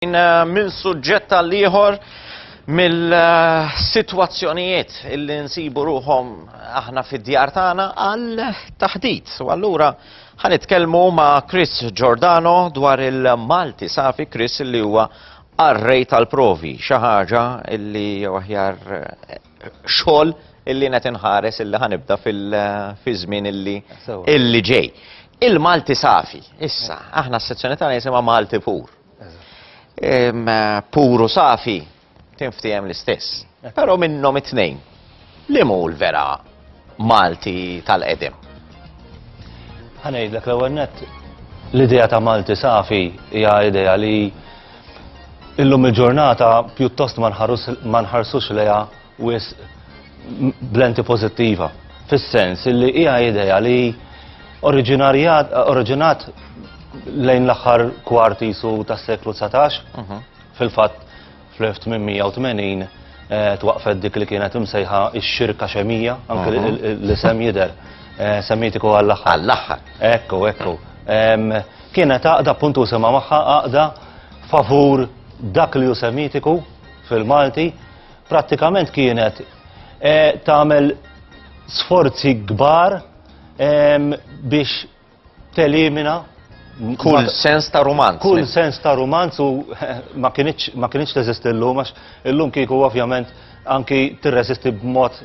xejn eh, minn suġġett għal ieħor mill-sitwazzjonijiet illi nsibu ruhom aħna fid-djar tagħna għal taħdit. U allura ħanitkellmu ma' Chris Giordano dwar il-Malti safi Chris li huwa arrej tal-provi, xi ħaġa illi aħjar eh, xogħol illi qed inħares illi ħanibda fil-żmien eh, illi illi ġej. Il-Malti safi, issa, aħna s-sezzjoni tagħna jisimha Malti pur. Puru safi, tinftijem l-istess. Pero minnom it-tnejn, li mu l-vera Malti tal-edem? Għanajdlek l-ewwel net, l-idea ta' Malti safi hija idea li illum il-ġurnata pjuttost ma nħarsux leja wisq blenti pożittiva, fis-sens li hija idea li oriġinat lejn l-aħħar kwart isu tas-seklu 19, mhm. fil-fatt fl-1880 eh, twaqfet dik li kienet imsejħa x-xirka xemija, anke mhm. li sem jider, eh, semmitiku għall-aħħar. Għall-aħħar. Ekku, ekku. Kienet għaqda puntu sema maħħa għaqda favur dak li ju semitiku fil-Malti Prattikament kienet eh, tagħmel sforzi kbar ehm, biex telimina Kull sens ta' romanz. Kull sens ta' romanz u ma kienieċ teżist illum, għax illum kieku ovvjament anki tirresisti b'mod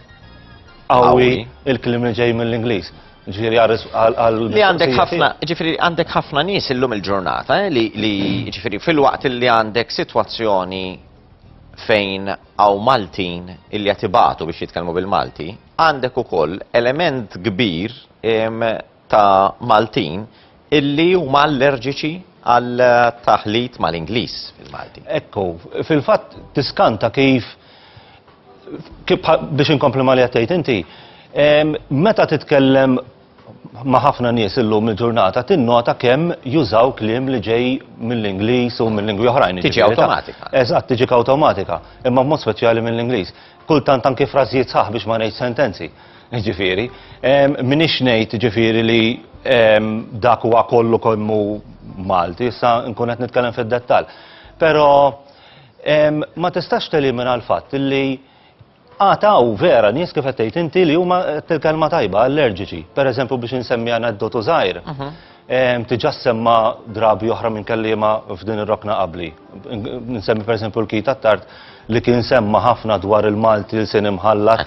għawi il-klim li ġej mill-Ingliż. Ġifiri għal Li għandek ħafna, ġifiri għandek ħafna nies illum il-ġurnata, eh, li ġifiri fil-waqt li għandek situazzjoni fejn hawn Maltin illi qed ibatu biex jitkellmu bil-Malti, għandek ukoll element kbir ta' Maltin illi huma allerġiċi għal taħlit mal-Ingliż fil-Malti. Ekku, fil-fatt tiskanta kif biex inkompli ma' li qed tgħid inti, meta titkellem ma' ħafna nies illum il-ġurnata tinnota kemm jużaw kliem li ġej mill-Ingliż u mill-lingwi oħrajn. Tiġi awtomatika. Eżatt, tiġi awtomatika, imma b'mod speċjali mill-Ingliż. Kultant anki frażijiet sħaħ biex ma ngħid sentenzi. Ġifieri, minix ngħid ġifieri li dak huwa kollu kemm hu Malti, issa nkun qed nitkellem fid-dettall. Però ma tistax telimina l-fatt li Għad hawn vera nies kif qed tgħid inti li huma qed il-kelma tajba allerġiċi. Pereżempju biex insemmi aneddotu żgħir. Diġà ssemma drabi oħra minn kelliema f'din ir-rokna qabli. Nsemmi pereżempju l-Keith Attard li kien semma ħafna dwar il-Malti ilsien imħallat,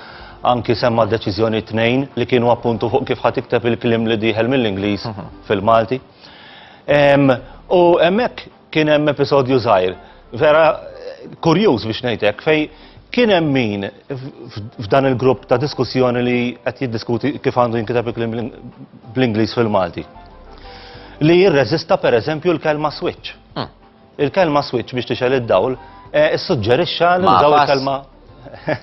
anki semma deċiżjoni tnejn li kienu appuntu fuq kif ħa tikteb il-kliem li dieħel mill-Ingliż fil-Malti. U hemmhekk Kien hemm episodju żgħir, vera kurjuż biex ngħidlek, fej kien hemm min f'dan il-grupp ta' diskussjoni li qed jiddiskuti kif għandu jinkiteb il-klim bl-Ingliż fil-Malti. Li jirreżista pereżempju l-kelma switch. Hmm. Il-kelma switch biex tixel id-dawl, eh, issuġġerixxa li daw il-kelma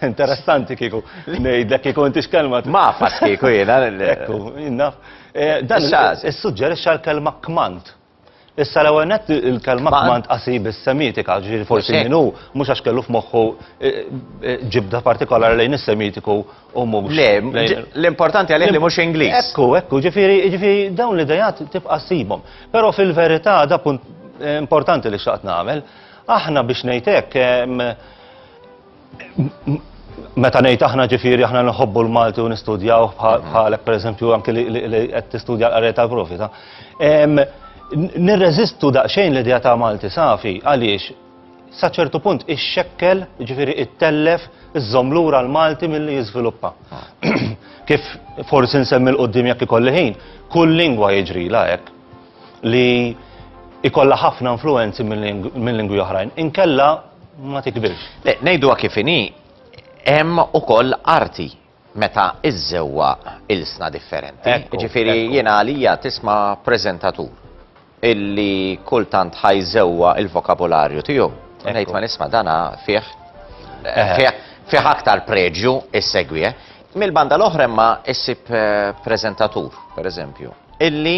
Interessanti kiku, nejdlek kiku inti xkelma. Ma fas kiku jena. Ekku, jinnaf. Eh, dan, s-sugġeri xal-kelma kmant. Issa l-ewwel nett il-kelma kmand qasir bis-Semitika, ġifieri forsi min hu mhux għax kellu f'moħħu eh, eh, ġibda partikolari lejn is-Semitiku u mhux. Le, l-importanti għalih li mhux Ingliż. Ekku, ekku, ġifieri ġifieri dawn l-idejat tibqa' ssibhom. Però fil-verità da punt eh, importanti li xaqt nagħmel, aħna biex ngħidlek Meta ngħid aħna ġifieri aħna nħobbu l-Malti u nistudjaw bħalek pereżempju anke li qed tistudja l-qari tal-profita. Nirreżistu daqsxejn l-idea ta' Malti safi għaliex sa ċertu punt ix-xekkel, ġifieri it-tellef, iżżomm lura l-Malti milli jiżviluppa. Kif forsi nsemmi l-qoddim jekk ikolli ħin, kull lingwa jiġri la hekk li ikolla ħafna influenzi minn lingwi oħrajn. Inkella ma tikbirx. Le, ngħiduha kif inhi, hemm ukoll arti meta iżżewwa ilsna differenti. Ġifieri jiena għalija tisma' preżentatur illi kultant ħajżewwa il-vokabularju tiegħu. Ngħid ma nisma' dana fih fih aktar preġju issegwih. Mill-banda l-oħra imma issib preżentatur, pereżempju, illi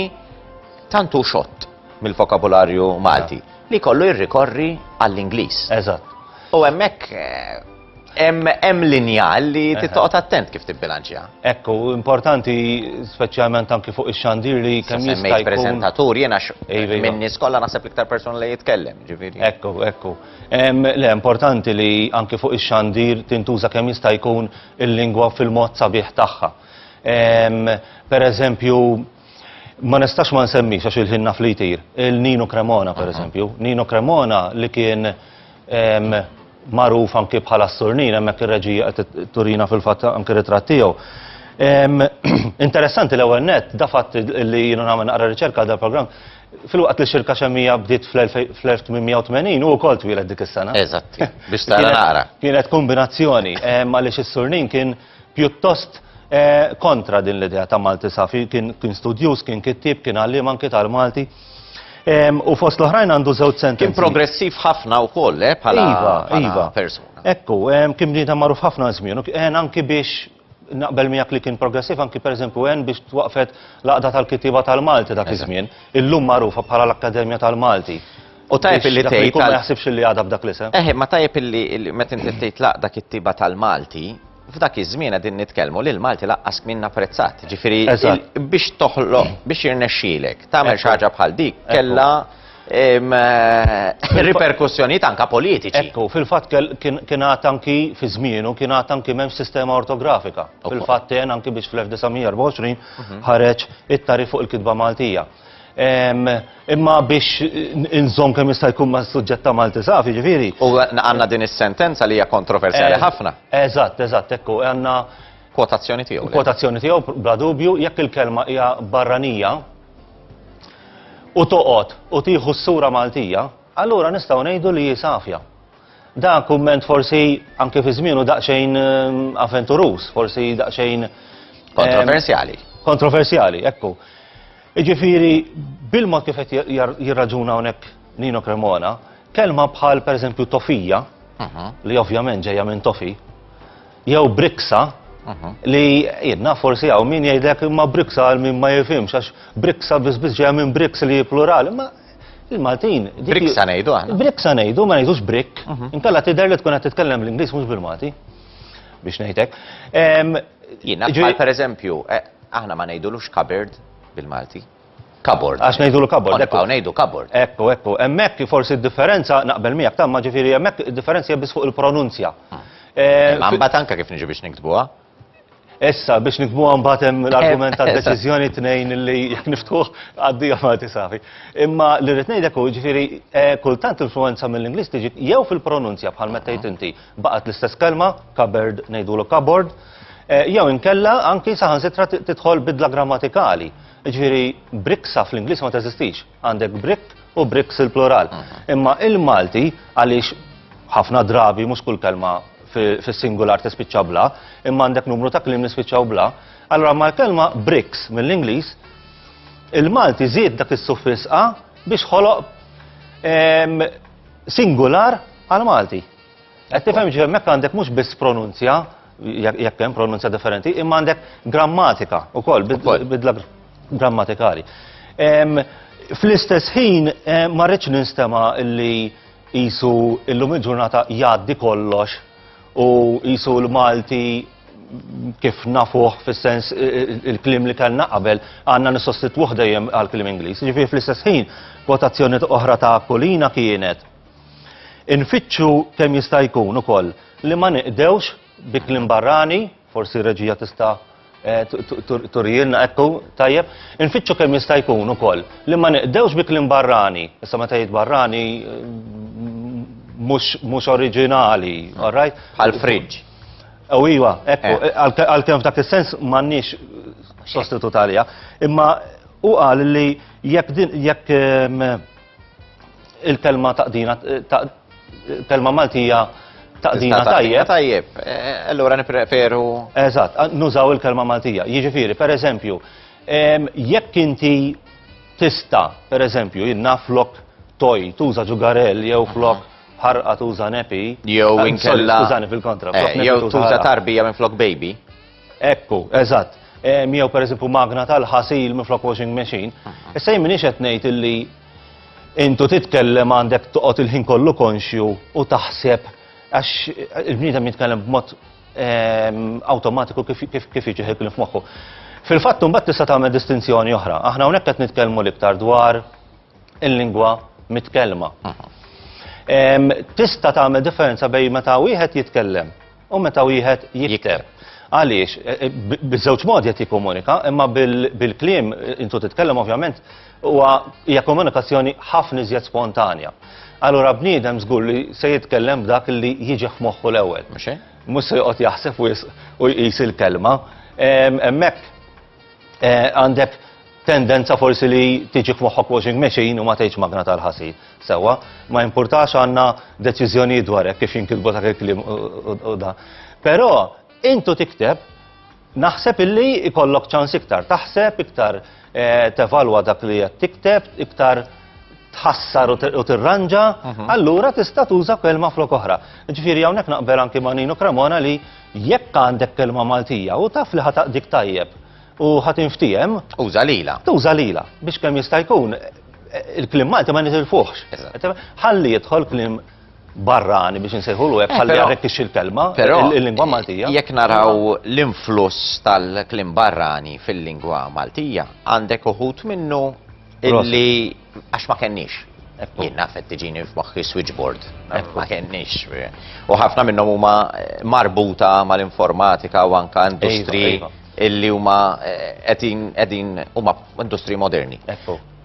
tantu xott mill-vokabularju Malti li kollu jirrikorri għall-Ingliż. Eżatt. U hemmhekk eh, hemm linja li titqgħod attent kif tibbilanċja. Ekku, importanti speċjalment anki fuq ix-xandir li kemm jista' jkun. preżentatur jiena iva, iva. minn nies kollha naħseb l-iktar persuna li jitkellem, ġifieri. Ekku, ekku. Le importanti li anki fuq ix-xandir tintuża kemm jista' jkun il-lingwa fil-mod sabiħ tagħha. Per eżempju, Ma nistax ma nsemmix għax il-ħin naf li jtir, il-Nino Cremona pereżempju. Nino Cremona li kien ehm, magħruf anki bħala s-surnin, hemmhekk ir-reġija qed turina fil-fatt anki ritratt tiegħu. Ehm, interessanti l-ewwel net, da fatt li jiena nagħmel naqra riċerka għal dal-programm, fil-waqt li xirka xemmija bdiet fl-1880 u wkoll twieled dik is-sena. Eżatt, biex tara naqra. Kienet kombinazzjoni, ehm, għaliex is-surnin kien pjuttost kontra din l-idea ta' Malti safi, kien studjuż, kien kittieb, kien għalliem anke tal-Malti. U fost l-oħrajn għandu żewġ sentenzi. Kien progressiv ħafna wkoll, eh, bħala iva, iva. persuna. Ekku, kien bniedem magħruf ħafna żmien, kien anki biex naqbel miegħek li kien progressiv anki pereżempju hemm biex twaqfet laqda tal-kittieba tal-Malti dak iż-żmien, illum magħrufa bħala l-Akkademja tal-Malti. U tajjeb illi tgħid. Jkun ma jaħsibx illi għadha b'dak l-isem. Eħe, ma tajjeb illi meta inti tgħid laqda kittiba tal-Malti, f'dak iż-żmien qegħdin nitkellmu li l-Malti laqqas kmien apprezzat. Ġifieri biex toħloq, biex jirnexxielek tagħmel xi ħaġa bħal dik kellha eh, riperkussjonijiet anka politiċi. Ekku, fil-fatt kien għad anki fi żmienu, kien għad anki m'hemmx sistema ortografika. Fil-fatt anki biex fl-1924 mhm. ħareġ it-tarif fuq il-kitba Maltija. Imma biex inżomm kemm jista' jkun ma' suġġett ta' Malti saf, jiġifieri. U għandna din is-sentenza li hija kontroversjali eh, ħafna. Eżatt, eżatt, ekku, għandna. Kwotazzjoni tiegħu. Kwotazzjoni tiegħu, bla dubju, jekk il-kelma hija barranija u toqgħod u tieħu s-sura Maltija, allura nistgħu ngħidu li hi safja. Dan kumment forsi anke fi żmienu daqsxejn avventuruż, forsi daqsxejn Kontroversjali. Kontroversjali, ekku. Iġifieri bil-mod kif qed jirraġuna hawnhekk Nino Cremona, kelma bħal pereżempju tofija, li ovvjament ġejja minn tofi, jew briksa, li jien naf forsi hawn min jgħidlek imma briksa għal min ma jifhimx għax briksa biss biss ġejja minn briks li hi plural, imma Il-Maltin. Briksa ngħidu aħna. Briksa ngħidu, ma ngħidux brik. Mhm. Inkella tidher li tkun qed titkellem l-Ingliż mhux bil-Malti. Biex ngħidlek. Jiena bħal pereżempju, eh, aħna ma ngħidulux kabird bil-Malti. Kabord. Għax ngħidu l kabord. Ekku ngħidu kabord. Ekku, ekku. Hemmhekk forsi d-differenza naqbel miegħek tamma ġifieri hemmhekk id-differenza biss fuq il-pronunzja. Għambat eh, eh, anka kif niġi biex niktbuha. Issa, biex nikbuha mbagħad hemm l-argument ta' deċiżjoni tnejn li jekk niftuħ għaddija ma tisafi. Imma li rrid ngħidlek hu ġifieri eh, kultant influenza mill-Ingliż tiġi jew fil-pronunzja bħal meta tgħid inti baqgħet l-istess kelma, cupboard ngħidulu cupboard, eh, jew inkella anki saħansitra tidħol bidla grammatikali. Ġifieri briksa fl-Ingliż ma teżistix. Għandek brick u bricks il-plural. Imma il-Malti għaliex ħafna drabi mhux kull kelma fis-singular tispiċċa bla, imma għandek numru ta' kliem nispiċċaw bla, allora ma' kelma bricks mill-Ingliż il-Malti żied dak is-suffisqa biex ħoloq singular għal Malti. Qed tifhem ġifier hemmhekk għandek mhux biss pronunzja, jekk jekk hemm pronunzja differenti, imma għandek grammatika wkoll, bid- Ukoll. bidla gr- grammatikali. Em, Fl-istess ħin eh, ma rridx ninstema' li qisu illum il-ġurnata jgħaddi kollox u qisu l-Malti kif nafuh fis-sens eh, eh, il-klim li kellna qabel għandna nissostitwuh dejjem għall-klim Ingliż. Ġifieri fl-istess ħin, kwotazzjoni oħra ta' Kulina kienet Infittxu kemm jista' jkun ukoll li ma niqdewx bi kliem barrani, forsi r-reġija tista' turielna, ekku, tajjeb, infittxu kemm jista' jkun ukoll li ma niqdewx bi kliem barrani, issa meta jgħid barrani mhux oriġinali, all right? Bħal fridge. U iva, ekku, għalkemm f'dak is-sens m'għandniex sostitut għaliha, imma hu qal li jekk Il-telma taqdina telma Maltija taqdina tajjeb. Tajjeb, e, e, allura nipreferu. Eżatt, nużaw il-kelma Maltija. Jiġifieri, per eżempju, jekk inti tista, per eżempju, jinna flok toj, tuża ġugarell jew flok ħarqa tuża nepi. Jew eh, inkella. Tużani fil-kontra. Eh, jew tuża tarbija minn flok baby. Ekku, eżatt. Miew per eżempju magna tal-ħasil minflok washing machine. Ah, ah. Issa jien minix qed ngħid illi intu titkellem għandek toqgħod il-ħin kollu konxju u taħseb għax il-bniedem jitkellem b'mod ehm, awtomatiku kif jiġi ħekli f'moħħu. Fil-fatt mbagħad tista' tagħmel distinzjoni oħra. Aħna hawnhekk qed nitkellmu l-iktar dwar il-lingwa mitkellma. Ehm, tista' tagħmel differenza bejn meta wieħed jitkellem u meta wieħed jikteb. Għaliex, eh, eh, biż-żewġ modi qed jikkomunika, imma bil-kliem eh, intu titkellem ovvjament huwa hija komunikazzjoni ħafna iżjed spontanja. Allura bniedem żgur li se jitkellem b'dak li jiġi moħħu l-ewwel. Mhux se joqgħod jaħseb u jqis il-kelma. Hemmhekk Eh, għandek tendenza forsi li tiġi f'moħħok washing machine u ma tgħidx magna tal-ħasil. Sewa, ma importax għandna deċiżjoni dwar hekk kif jinkitbu dak il-klim u da. Però intu tikteb naħseb illi ikollok ċans iktar taħseb, iktar eh, tevalwa dak li qed tikteb, iktar tħassar u tirranġa, mhm. allura tista' tuża kelma flok oħra. Ġifieri hawnhekk naqbel anki ma' Nino Cremona li Jekk għandek kelma Maltija u taf li ħa taqdik tajjeb u ħa tinftiehem. Uża lilha. Tuża lilha biex kemm jista' jkun il-kliem Malti ma nitilfuhx. Ħalli jidħol kliem barrani biex insejħulu hekk eh, ħalli jarrekkixxi l-kelma il-lingwa Maltija. Jekk naraw l-influss tal-kliem barrani fil-lingwa Maltija, għandek uħut minnu illi Għax ma kenniex. Jien naf qed tiġini f'moħħi switchboard. Ma kenniex. U ħafna minnhom huma eh, marbuta mal-informatika u anka industri iva, iva. illi huma eh, qegħdin huma industri moderni.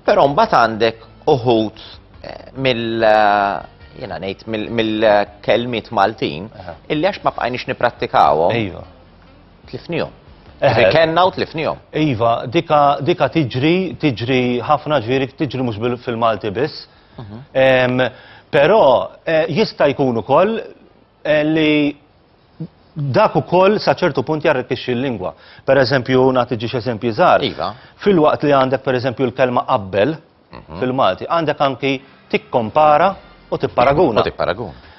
Però mbagħad għandek uħud eh, mill jena nejt mill-kelmiet Maltin, illi għax ma bqajniex niprattikawhom. Iva. Tlifnihom. Eħe. Kenna u tlifnihom. Iva, dika, dika tiġri, tiġri ħafna ġviri, tiġri mhux fil-Malti biss. Mhm. Però eh, jista' jkun ukoll eh, li dak ukoll sa ċertu punt jarrikixxi l-lingwa. Per eżempju, nagħti ġiex eżempji żgħar. Iva. Fil-waqt li għandek per eżempju l-kelma qabbel, mhm. fil-Malti. Għandek anki tikkompara u tipparaguna. U tipparaguna.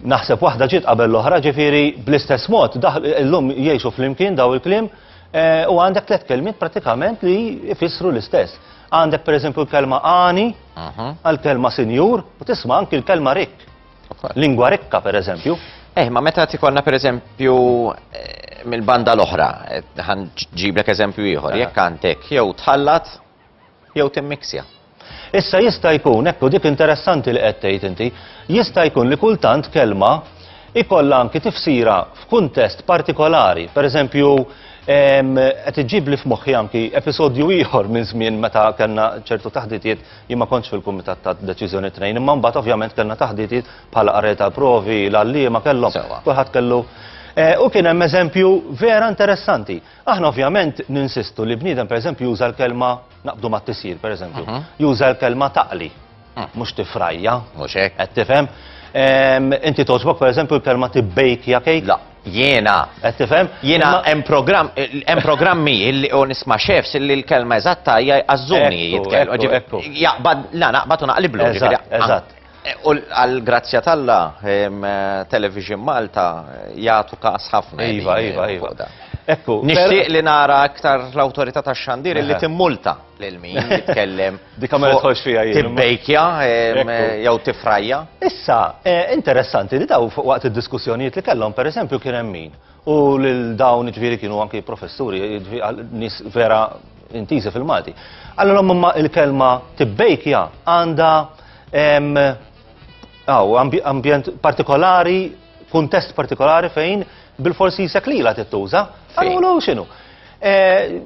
Naħseb waħda ġiet qabel l-oħra, ġifieri bl-istess mod, illum jgħixu flimkien daw il-klim, eh, u għandek tliet kelmiet pratikament li jfissru l-istess. Għandek pereżempju l-kelma għani, mhm. għal-kelma sinjur, u tisma' anki l-kelma rikk. Lingwa rikka pereżempju. Eh, ma meta tikonna pereżempju eh, mill-banda l-oħra, eh, ġiblek eżempju ieħor, jekk għandek jew tħallat jew timmiksja. Issa jista' jkun, ekku dik interessanti li qed tgħid inti, jista' jkun li kultant kelma ikollha anki tifsira f'kuntest partikolari. Pereżempju, ehm, qed iġibli f'moħħi anki episodju ieħor minn żmien meta kellna ċertu taħditiet jien ma kontx fil-kumitat ta' deċiżjoni tnejn, imma mbagħad ovvjament kellna taħditiet bħala qari tal-provi, l-għalliema kellhom, kulħadd kellu. Eh, u kien hemm eżempju vera interessanti. Aħna ovvjament ninsistu li bniedem pereżempju juża l-kelma naqbdu mat-tisjir pereżempju, juża l-kelma taqli, mhux tifrajja. Mhux hekk. Qed tifhem? Inti togħġbok pereżempju l-kelma tibbejkja kejk? La, jiena. Qed tifhem? Jiena hemm programm hemm programmi li u nisma' chefs li l-kelma eżatta hija jqażżuni jitkellmu. Ekku, ekku, ekku. Jaqbad, la naqbad u naqliblu. Eżatt, eżatt. U għall-grazzja t'Alla, Television Malta jagħtu każ ħafna. Iva, iva, iva. Ekku. Nixtieq li nara aktar l-awtorità tax-xandir li timmulta lil min jitkellem. Di kamera tħoss fija jien. Tibbejkja jew tifrajja. Issa, eh, interessanti li daw waqt id-diskussjonijiet li kellhom, pereżempju kien hemm min. U lil dawn ġifieri kienu anki professuri, nis vera intiżi fil-Malti. Allora imma il-kelma tibbejkja għandha Aw, ambjent partikolari, kuntest partikolari fejn bil-forsi jisek li la tittuża. Għallu xinu.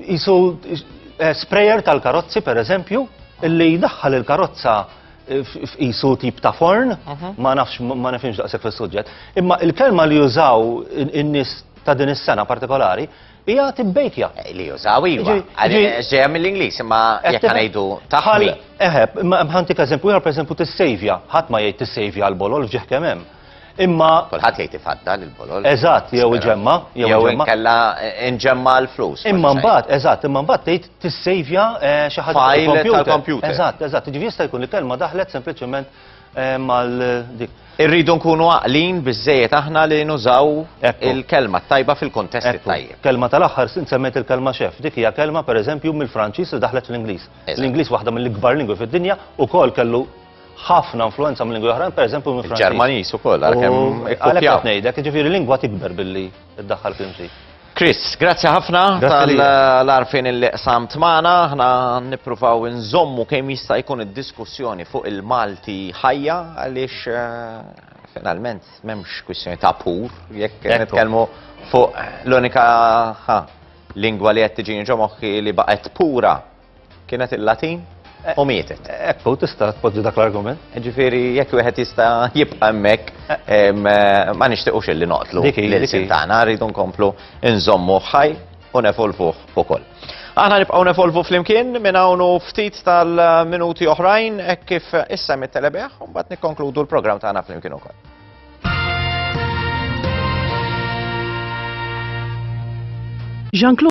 Jisu eh, eh, sprayer tal-karozzi, per eżempju, li daħħal il-karozza f'isu tip ta' forn, mhm. ma nafx ma nafx daqshekk fis-suġġett. Imma il-kelma li jużaw in-nies ta' din is-sena partikolari Hija tibbejkja. Eh, li jużaw iva. Ġejja mill-Ingliż, imma jekk ngħidu taħli. Eħe, imma ħantik eżempju ieħor pereżempju tissejvja. Ħadd ma jgħid tissejvja l-bolol f'ġieħ kemm hemm. Imma kulħadd jgħid ifadda l-bolol. Eżatt, jew iġemma, jew inkella inġemma eh, l-flus. Imma mbagħad, eżatt, imma mbagħad tgħid tissejvja eh, xi ħaġa tal-kompjuter. Eżatt, eżatt, jiġifieri jista' jkun il-kelma daħlet sempliċement mal dik. Irridu nkunu għaqlin biżżejjed aħna li nużaw il-kelma t-tajba fil-kuntest it-tajjeb. Kelma tal-aħħar, int semmejt il-kelma chef, dik hija kelma pereżempju mill-Franċiż li daħlet fl-Ingliż. L-Ingliż waħda mill-ikbar lingwi fid-dinja, ukoll kellu ħafna influwenza minn lingwi oħrajn, pereżempju mill-Franċiż. Il-Ġermaniż ukoll, għalkemm ikkopjaw. Għalhekk qed ngħidlek, jiġifieri lingwa tikber billi. iddaħħal klimti. Chris, grazzi ħafna tal-arfin li qsamt magħna, aħna nippruvaw nżommu kemm jista' jkun id-diskussjoni fuq il-Malti ħajja għaliex eh, finalment m'hemmx kwistjoni ta' pur jekk nitkellmu fuq l-unika lingwa li qed tiġini ġo moħħi li baqgħet pura Kienet il-Latin eh, u mietet. Ekku, eh, tista' tpoġġi dak l-argument. Ġifieri jekk wieħed jista' jibqa' hemmhekk eh. ma nixtiequx illi noqtlu l-ilsin tagħna rridu nkomplu nżommu ħaj u nefolvuh ukoll. Aħna nibqgħu nefolvu flimkien minn hawn ftit tal-minuti oħrajn hekk kif issa mit-telebeħ u mbagħad nikkonkludu l-programm tagħna flimkien ukoll. Jean-Claude